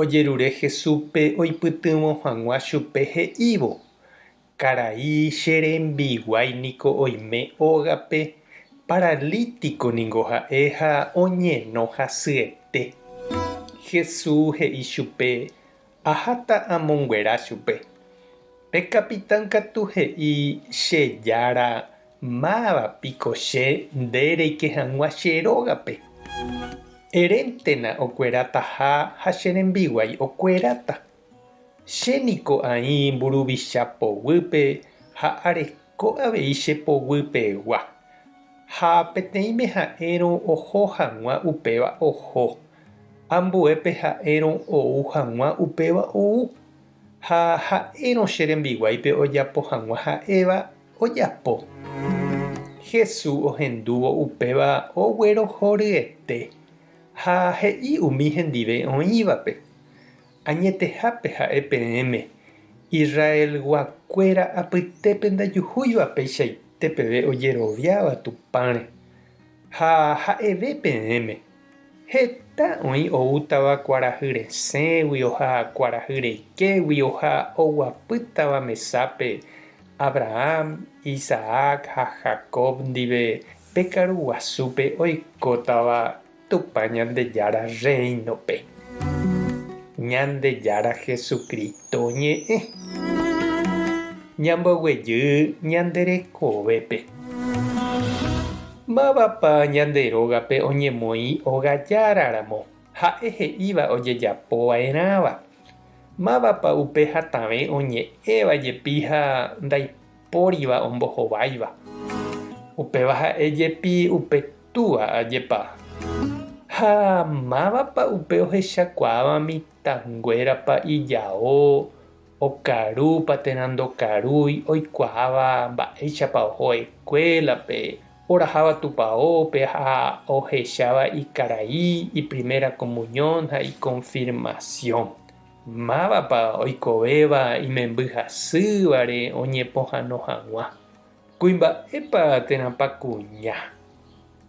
ojerure Jesúspe oipytyvõ hag̃ua chupe he'ívo, Karai, che rembiguái niko oime ógape, paralítiko ningo ha'e ha oñeno hasyete. Jesús he'i chupe, Aháta amonguera chupe. Pe kapitán katu he'i che jára Máva piko che nde reike hag̃ua che rógape? Eréntena okuerataha ha che rembiguái okueráta. Che niko aĩ mburuvicha poguýpe ha areko avei che poguy pegua. Ha peteĩme ha'érõ oho hag̃ua upéva oho, ambuépe ha'érõ ou hag̃ua upéva ou. Ha ha'érõ che rembiguáipe ojapo hag̃ua ha'éva ojapo. Jesús ohendúvo upéva oguerohoryete ha he'i umi hendive oĩvape, Añetehápe ha'e peẽme, Israelgua kuéra apytépe ndajuhúiva peichaite peve ojeroviáva Tupãre. Ha ha'eve peẽme, Heta oĩ oútava kuarahy resẽgui, oha kuarahy reikégui, oha oguapýtava mesápe Abraham, Isaac ha Jacob ndive pe karu guasúpe oikótava Tupã Ñandejára Rréinope. Ñandejára Jesucristo ñe'ẽ. Ñamboguejy ñande rekovépe. Mávapa ñande rógape oñemoĩ ogajára ramo, ha'e he'íva ojejapo vaerãva? Mávapa upe hatãve oñe'ẽva jepi ha ndaipóriva ombohováiva? Upéva ha'e jepi upe Túa, ajepa. Ha mávapa upe ohechakuaáva mitãnguérapa ijao, okarúpa térã ndokarúi, oikuaáva mba'éichapa oho eskuélape, oraháva tupaópe ha ohecháva ikarai iprimera komunión ha ikonfirmasión. Mávapa oikovéva imembyhasývare oñepohãno hag̃ua. Kuimba'épa térãpa kuña?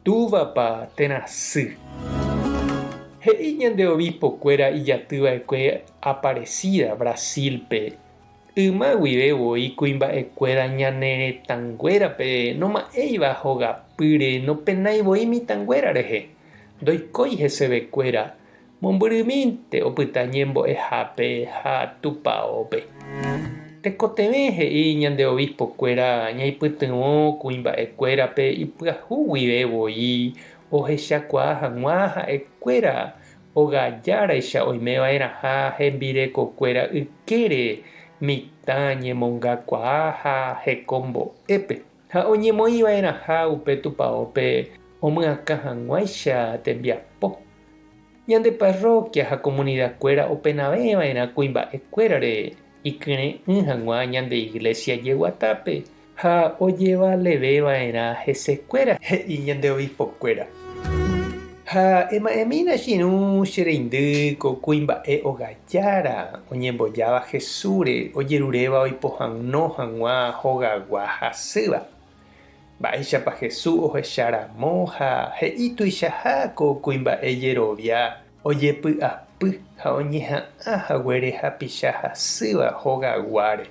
Túvapa térã sy? He'i ñande obispokuéra ijatyva'ekue Aparecida, Brasil-pe, Yma guive voi kuimba'ekuéra ñane retãnguérape noma'ẽiva hogapýre nopenái voi mitãnguéra rehe, ndoikói hesevekuéra, mombyrymínte opyta ñembo'ehápe ha tupaópe. Tekotevẽ he'i ñande obispokuéra ñaipytyvõ kuimba'ekuérape ipyahu guive voi ohechakuaa hag̃ua ha'ekuéra ogajaraicha oimeva'erãha hembirekokuéra ykére mitã ñemongakuaa ha hekombo'épe. Ha oñemoĩva'erãha upe tupaópe omyakã hag̃uáicha tembiapo. Ñande parrókia ha komunidakuéra openavẽva'erã kuimba'ekuérare ikyre'ỹ hag̃ua ñande iglésia jeguatápe ha ojevaleveva'erã hesekuéra, he'i ñande obispokuéra. Ha ema'ẽmína che irũ che reindy ko kuimba'e ogái. Jára oñembojáva Jesúsre ojeruréva oipohãno hag̃ua hogagua hasýva. Mba'éichapa Jesús ohecha ramo ha he'i tuichaha ko kuimba'e jerovia ojepy'apy ha oñeha'ã haguére hapicha hasýva hogaguáre,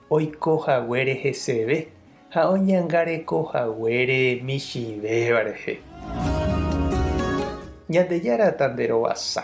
oiko haguére heseve ha oñangareko haguére michĩvéva rehe. Ñandejára tanderovasa,